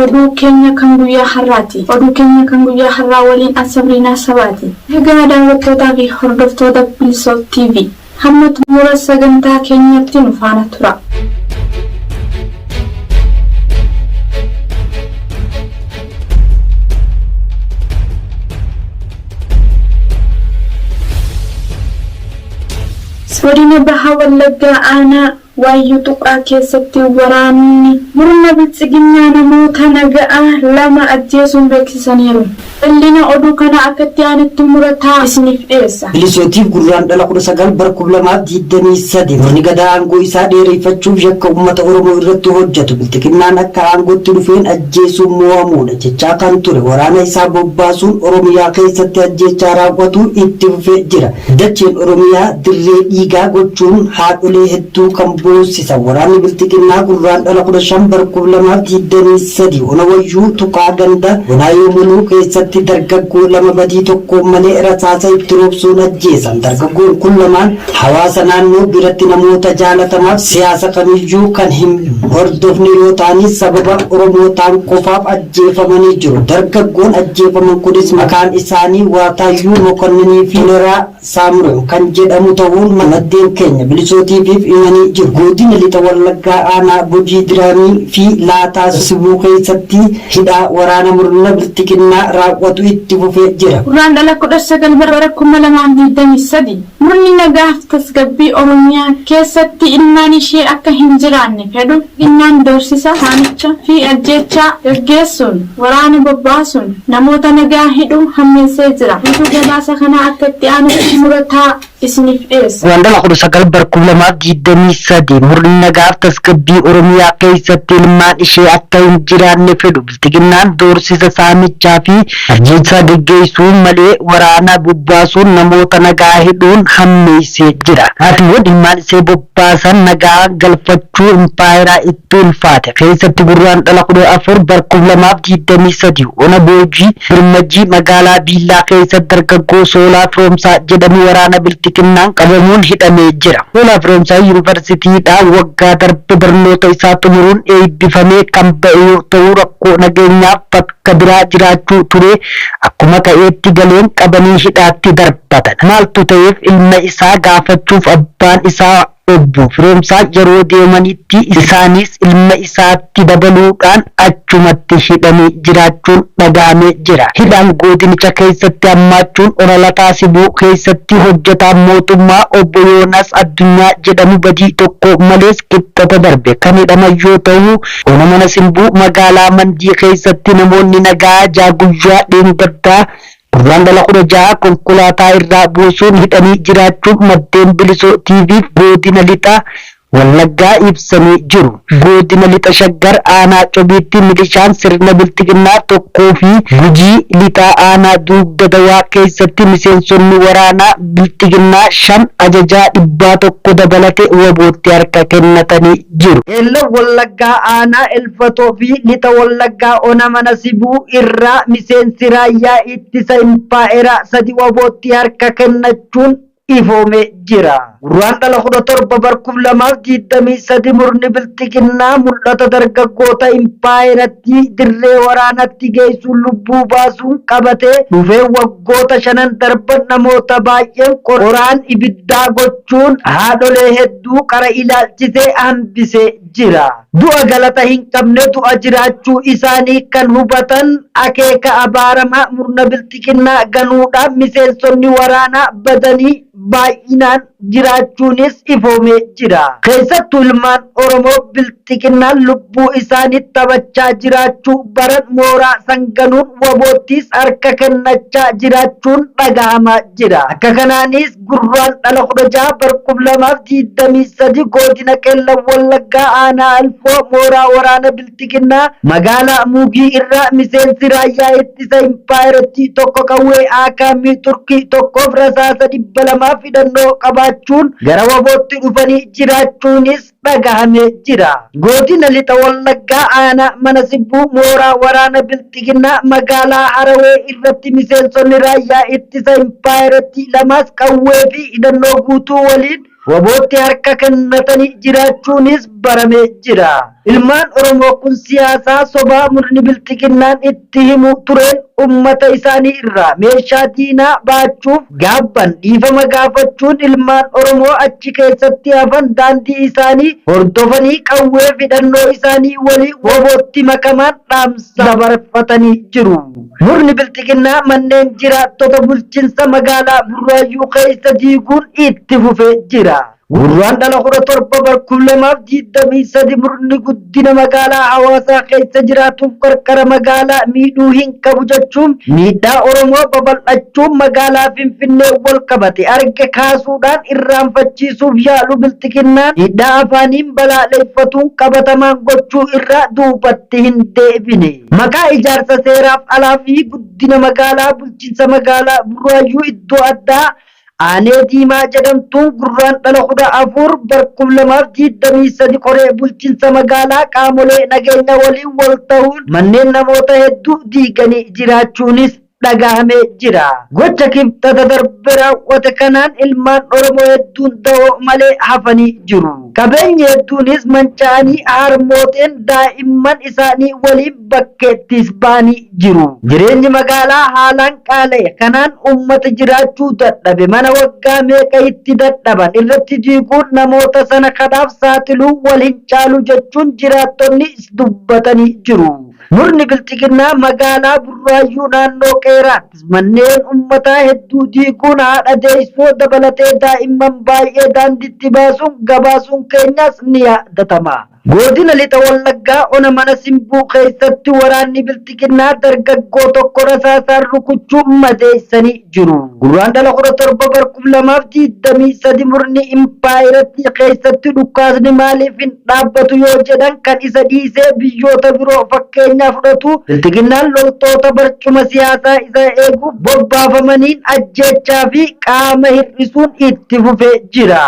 Oduu keenya kan guyyaa har'aati. Oduu keenya kan guyyaa har'aa waliin an Sabriinaa Sabaati. Egaa daawwattootaa fi hordoftoota Bilisoof TV, hamma xumura sagantaa keenyaatti nu faana turaa. Godina Baha Wallaggaa Aanaa. Waayyuu Tuqaa keessatti waraanni murna biltsiginnaa namoota naga'aa 2 ajjeesuun beeksisaniiru. Ballina oduu kanaa akka itti aanutti Murataa isiniif dhiyeessa. Milishotiif Gurraandhala 19 bara 2023 murni Gadaa aangoo isaa dheereyfachuuf yakka ummata Oromoo irratti hojjatu bilxiginnaan akka aangootti dhufeen ajjeesuun moo'amuudha jechaa kan ture waraana isaa bobbaasuun Oromiyaa keessatti ajjeechaa raaw'atu itti fufee jira. Dacheen Oromiyaa dirree dhiigaa gochuun haadholee hedduu kan boossisa waraanni Bilxiginnaa Gurraandhala 15 bara 2023 Ona Wayyuu Tuqaa ganda Gonaayoo Muluu keessatti dargaggoo lama badii tokko malee rasaasa itti roobsuun ajjeesan. Dargaggoon kun lamaan hawaasa naannoo biratti namoota jaalatamaaf siyaasa kamiyyuu kan hin hordofne yoo ta'anis sababa Oromootaan qofaaf ajjeefamanii jiru. Dargaggoon ajjeefaman kunis maqaan isaanii Waataayyuu Mokonninii fi Toleraa Saamrew kan jedhamu tahuun maddeen keenya Bilisoo TV'f himanii jiru. Godina Lixa Wallaggaa Aanaa Gujii Diraamii fi Laataa Sibuu keessatti hidhaa waraana murna Bilxiginnaa raawwatu itti fufee jira. Gurraandhala 19 bara 2023. Murni nagaaf tasgabbii Oromiyaa keessatti ilmaan ishee akka hin jiraanne fedhu innaan doorsisa, saamicha, fi ajjeechaa gaggeessuun waraana bobbaasuun namoota nagaa hidhuu hammeessee jira. Guutuu gabaasa kanaa akka itti aanutti murataa isiniif dhiyeessa. Guraandhala 19 bara 2023 murni nagaaf tasgabbii Oromiyaa keessatti ilmaan ishee akka hin jiraanne fedhu Bilxiginnaan doorsisa saamichaa fi ajjeechaa geggeessuun malee waraana bobbaasuun namoota nagaa hidhuun hammeessee jira. Taatiiwwan ilmaan isee bobbaasan nagaa galfachuu impaayeraa itti ulfaate keessatti Gurraandhala 14 bar 2023 ona Boojii Birmajii magaalaa Diillaa keessatti dargaggoo Soolaa Firoomsaa jedhamu waraana Bilxiginnaan qabamuun hidhamee jira. Hoolaa Firoomsaa Yuunivarsiitiidhaa waggaa darbe barnoota isaa xumuruun eebbifamee kan ba'e yoo ta'u, rakkoo nageenyaaf bakka biraa jiraachuu turee akkuma ka'eetti galeen qabanii hidhaatti darbatan. Maaltu ta'eef ilma isaa gaafachuuf abbaan isaa Obbo Firoomsaan yeroo deemanitti isaanis ilma isaatti. itti dabaluu dhaan achumatti hidhanii jiraachuun dhaga'amee jira. Hidhaan goodinicha keessatti hammaachuun Ona Lataa Sibuu keessatti hojjetaan mootummaa Obbo Yoonaas Addunyaa jedhamu badii tokko malees Kibxata darbe kan hidhaman yoo ta'u, Ona Mana Simbuu magaalaa Mandii keessatti namoonni nagaa ja'a guyyaa dheengaddaa Gurraandhala 16 konkolaataa irraa buusuun hidhanii jiraachuu maddeen Bilisoo TV'f Goodina Lixa Wallaggaa ibsanii jiru. Goodina Lixa Shaggar Aanaa Cobiitti milishaan sirna bilxiginnaa tokkoo fi Gujii Lixaa Aanaa Duugda Dawaa keessatti miseensonni waraanaa bilxiginnaa 5 ajajaa dhibbaa 1 dabalate wbo tti harka kennatanii jiru. Qeellam Wallaggaa Aanaa Ulfatoo fi Lixa Wallaggaa Ona Mana Sibuu irraa miseensi raayyaa ittisa impaa'eraa sadi wabootti harka kennachuun ifoomee jira. Gurraandhala 17 bar 2023 murni bilxiginnaa mul'ata dargaggoota impaayerattii dirree waraanatti geessuun lubbuu baasuun qabatee dhufee waggoota shanan darban namoota baay'een qoraan ibiddaa gochuun haadholee hedduu qara ilaalchisee hambisee jira. Du'a galata hin qabne du'a jiraachuu isaanii kan hubatan akeeka abaaramaa murna bilxiginnaa ganuudhaan miseensonni waraanaa badanii baay'inaan jiraachuunis ifoomee jira. Keessattuu ilmaan Oromoo bilxiginnaan lubbuu isaaniit taphachaa jiraachuu baran mooraa san ganuun waboottis harka kennachaa jiraachuun dhagahamaa jira. Akka kanaanis. Gurraandhala 16 bara 2023 Godina Qellem Wallaggaa Aanaa Alfoo mooraa waraana Bilxiginnaa magaalaa Muugii irraa miseensi raayyaa ittisa impaayerattii tokko qawwee AKM Turkii tokkoof rasaasa 200 fi hidhannoo qabaachuun gara wbo tti dhufanii jiraachuunis dhagahame jira. Godina Lixa Wallaggaa Aanaa Mana Sibbuu mooraa waraana Bilxiginnaa magaalaa Harawee irratti miseensonni raayyaa ittisa impaayerattii lamas qawwee fi hidhannoo guutuu waliin wabootti harka kennatanii jiraachuunis baramee jira. Ilmaan Oromoo kun siyaasaa sobaa murni Bilxiginnaan itti. itti himu tureen ummata isaanii irraa meeshaa diinaa baachuuf gaabban dhiifama gaafachuun ilmaan Oromoo achi keessatti hafan daandii isaanii hordofanii qawwee fidhannoo isaanii waliin wbo-tti makamaan dhaamsa dabarfatanii jiru. Murni Bilxiginnaa manneen jiraattota bulchinsa magaalaa Burraayyuu keessa diiguun itti fufee jira. Gurraandhala 17 bar 2023 murni guddina magaalaa Hawaasaa keessa jiraatuuf qarqara magaalaa miidhuu hin qabu jechuun miidhaa Oromoo babal'achuu magaalaa Finfinneen wal qabate arge kaasuudhaan irraanfachiisuuf yaalu Bilxiginnaan miidhaa afaaniin balaaleeffatuun qabatamaan gochuu irraa duubatti hin deebine. Maqaa ijaarsa seeraaf alaa fi guddina magaalaa bulchiinsa magaalaa Burraayyuu iddoo addaa Aanee Diimaa jedhamtuun Gurraandhala 14 bar 2023 koree bulchinsa magaalaa qaamolee nageenya waliin wal tahuun manneen namoota hedduu diiganii jiraachuunis dhagahamee jira. Gocha Kibxata darbe raawwate kanaan ilmaan Oromoo hedduun dahoo malee hafanii jiru. Qabeenyi hedduunis manca'anii harmooteen daa'imman isaanii waliin bakkeettis ba'anii jiru. Jireenyi magaalaa haalaan qaala'e kanaan uummata jiraachuu dadhabe mana waggaa meeqa itti dadhaban irratti diiguun namoota sana kadhaaf saaxiluu wal hin caalu jechuun jiraattonni dubbatanii jiru. Murni Bilxiginnaa magaalaa Burraayyuu naannoo Qeeraatti manneen uummataa hedduu diiguun haadha deessoo dabalatee daa'imman baay'ee daandiitti baasuun gabaasuun keenyas ni yaadatama. Godina Lixa Wallaggaa Ona Mana Simbuu keessatti waraanni Bilxiginnaa dargaggoo tokko rasaasaan rukuchuun madeessanii jiru. Gurraandhala 17 bar 2023 murni impaayerattii keessatti dhukkaasni maaliif hin dhaabbatu yoo jedhan kan isa dhiisee biyyoota biroo fakkeenyaa fudhatu Bilxiginnaan loltoota barcuma siyaasaa isaa eeguuf bobbaafamaniin ajjeechaa fi qaama hir'isuun itti fufee jira.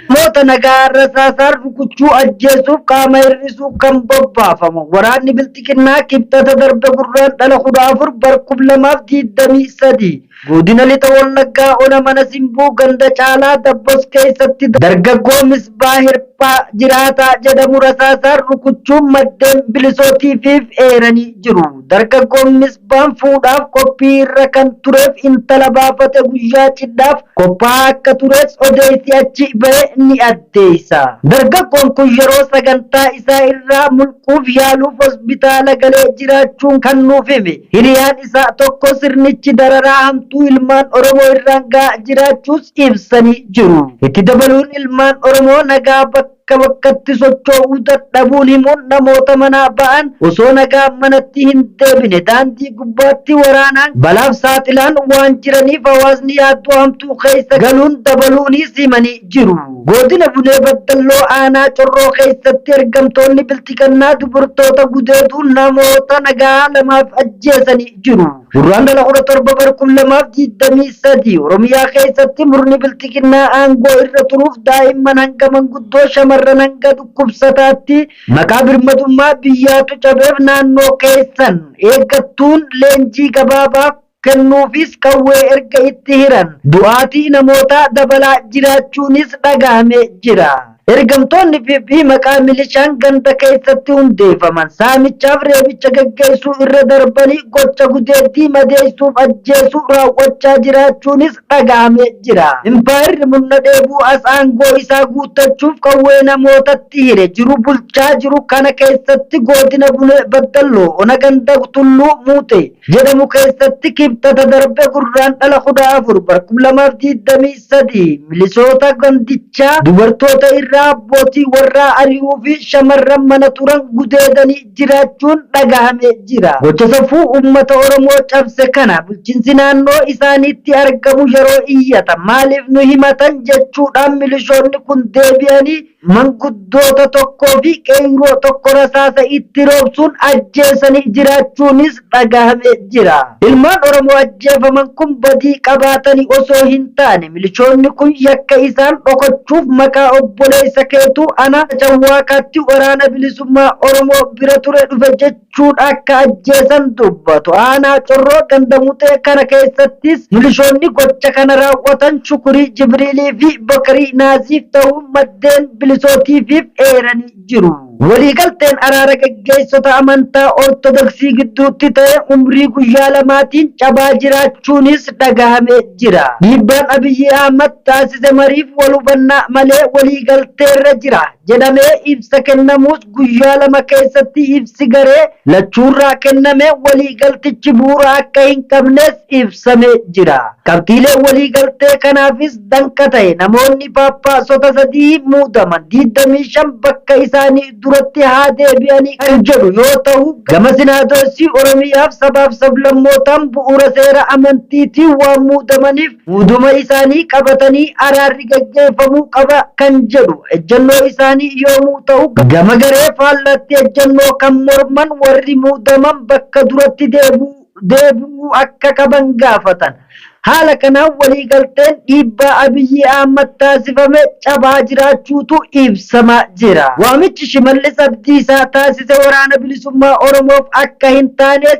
Namoota nagaa rasaasaan rukuchuu, ajjeesuuf qaama hir'isuun kan bobbaafamu waraanni Bilxiginnaa Kibxata darbe Gurraandhala 14 bar 2023 Godina Lixa Wallaggaa Ona Mana Simbuu ganda Caalaa Dabbos keessatti dargaggoo Misbaa Hirphaa Jiraataa jedhamu rasaasaan rukuchuun maddeen Bilisoo TV'f eeranii jiru. Dargaggoon Misbaa. Abbaan fuudhaaf qophii irra kan tureef intala baafate guyyaa cidhaaf qophaa'aa akka tures odeessi achi bahe ni addeessa. Dargaggoon kun yeroo sagantaa isaa irraa mulquuf yaaluuf hospitaala galee jiraachuun kan nuuf hime hiriyaan isaa tokko sirnichi dararaa hamtuu ilmaan Oromoo irraan gahaa jiraachuus ibsanii jiru. Itti dabaluun ilmaan Oromoo nagaa bakka. bakka bakkatti socho'uu dadhabuun himuun namoota manaa ba'an osoo nagaan manatti hin deebine daandii gubbaatti waraanaan balaaf saaxilaan waan jiraniif hawaasni yaaddoo hamtuu keessa galuun dabaluuniis himanii jiru. Goodina Bunee Baddalloo Aanaa Corroo keessatti ergamtoonni Bilxigannaa dubrtoota gudeeduun namoota nagaa lamaaf ajjeesanii jiru. Gurraandhala 17 bar 2023 Oromiyaa keessatti murni bilxiginnaa aangoo irra turuuf daa'imman hanga manguddoo shamarran hanga dhukkubsataatti maqaa birmadummaa biyyaatu cabeef naannoo keessan eeggattuun leenjii gabaabaa kennuufiis qawwee erga itti hiran du'aatii namootaa dabalaa jiraachuunis dhagahame jira. Ergamtoonni PP maqaa milishaan ganda keessatti hundeeffaman saamichaaf reebicha gaggeessuu irra darbanii gocha gudeeddii madeessuuf ajjeesuu raawwachaa jiraachuunis dhaga'amee jira. Impaayerri murna dheebuu as aangoo isaa guuttachuuf qawwee namootatti hire jiru bulchaa jiru kana keessatti Goodina Bunee Baddalloo Ona Ganda Tulluu Muutee, jedhamu keessatti Kibxata darbe Gurraandhala 14 bara 2023 milisoota gandichaa dubartoota irraa abbootii warraa ari'uu fi shamarran mana turan gudeedanii jiraachuun dhagahame jira. Gocha safuu uummata Oromoo cabse kana bulchiinsi naannoo isaaniitti argamu yeroo iyyatan maaliif nu himatan jechuudhaan milishoonni kun deebi'anii Manguddoota tokkoo fi qeeyroo tokko rasaasa itti roobsuun ajjeesanii jiraachuunis dhagahame jira. Ilmaan Oromoo ajjeefaman kun badii qabaatani osoo hin taane milishoonni kun yakka isaan dhokochuuf maqaa obboleessa keetu anaa Cawwaaqaatti Waraana Bilisummaa Oromoo bira ture dhufe jechuun jechuun akka ajjeesan dubbatu. Aanaa Corroo ganda Muxee kana keessattis milishoonni gocha kana raawwatan Shukurii Jibriilii fi Bakarii Naaziif ta'uu maddeen Bilisoo TV'f eeranii jiru. Waliigalteen araara gaggeessota amantaa Ortodoksii gidduutti ta'e umrii guyyaa lamaatiin cabaa jiraachuunis dhagahamee jira. Dhiibbaan Abiyyi Ahmad taasise mariif wal hubannaa malee waliigalteerra jira. jedhamee ibsa kennamuus guyyaa lama keessatti ibsi garee lachuurraa kenname waliigaltichi bu'uura akka hin qabnes ibsame jira. Qabxiilee waliigaltee kanaafis danqa ta'e namoonni Phaaphaasota sadii muudaman 25 bakka isaanii duratti haa deebi'anii kan jedhu yoo ta'u, gama Sinaadoosii Oromiyaaf sabaaf sablammootaan bu'uura seera amantiitiin waan muudamaniif, Muudama isaanii qabatanii araarri gaggeeffamuu qaba kan jedhu ejjennoo isaanii yoomuu ta'u, gama garee faallaatti ejjennoo kan morman warri muudaman bakka duratti deebi'uu akka qaban gaafatan. Haala kanaan waliigalteen dhiibbaa Abiy Ahmad taasifame cabaa jiraachuutu ibsama jira. Waamichi Shimallis Abdiisaa taasise Waraana Bilisummaa Oromoof akka hin taanes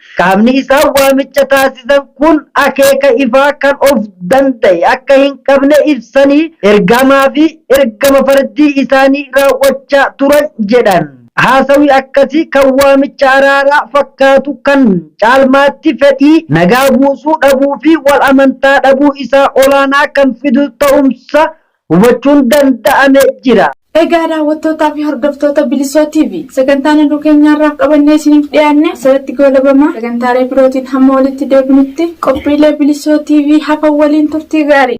Qaamni isaan waamicha taasisan kun akeeka ifaa kan of danda'e akka hin qabne ibsanii, ergamaa fi ergama fardii isaanii raawwachaa turan jedhan. Haasawi akkasii kan waamicha araaraa fakkaatu kan caalmaatti fedhii nagaa buusuu dhabuu fi wal amantaa dhabuu isaa olaanaa kan fidu ta'umsa hubachuun danda'ame jira. Egaa daawwattootaa fi hordoftoota Bilisoo TV sagantaan oduu keenya har'aaf qabannee isiniif dhiyaanne asirratti goolabama. Sagantaalee birootiin hamma walitti deebinutti qophiilee Bilisoo TV hafan waliin turtii gaarii.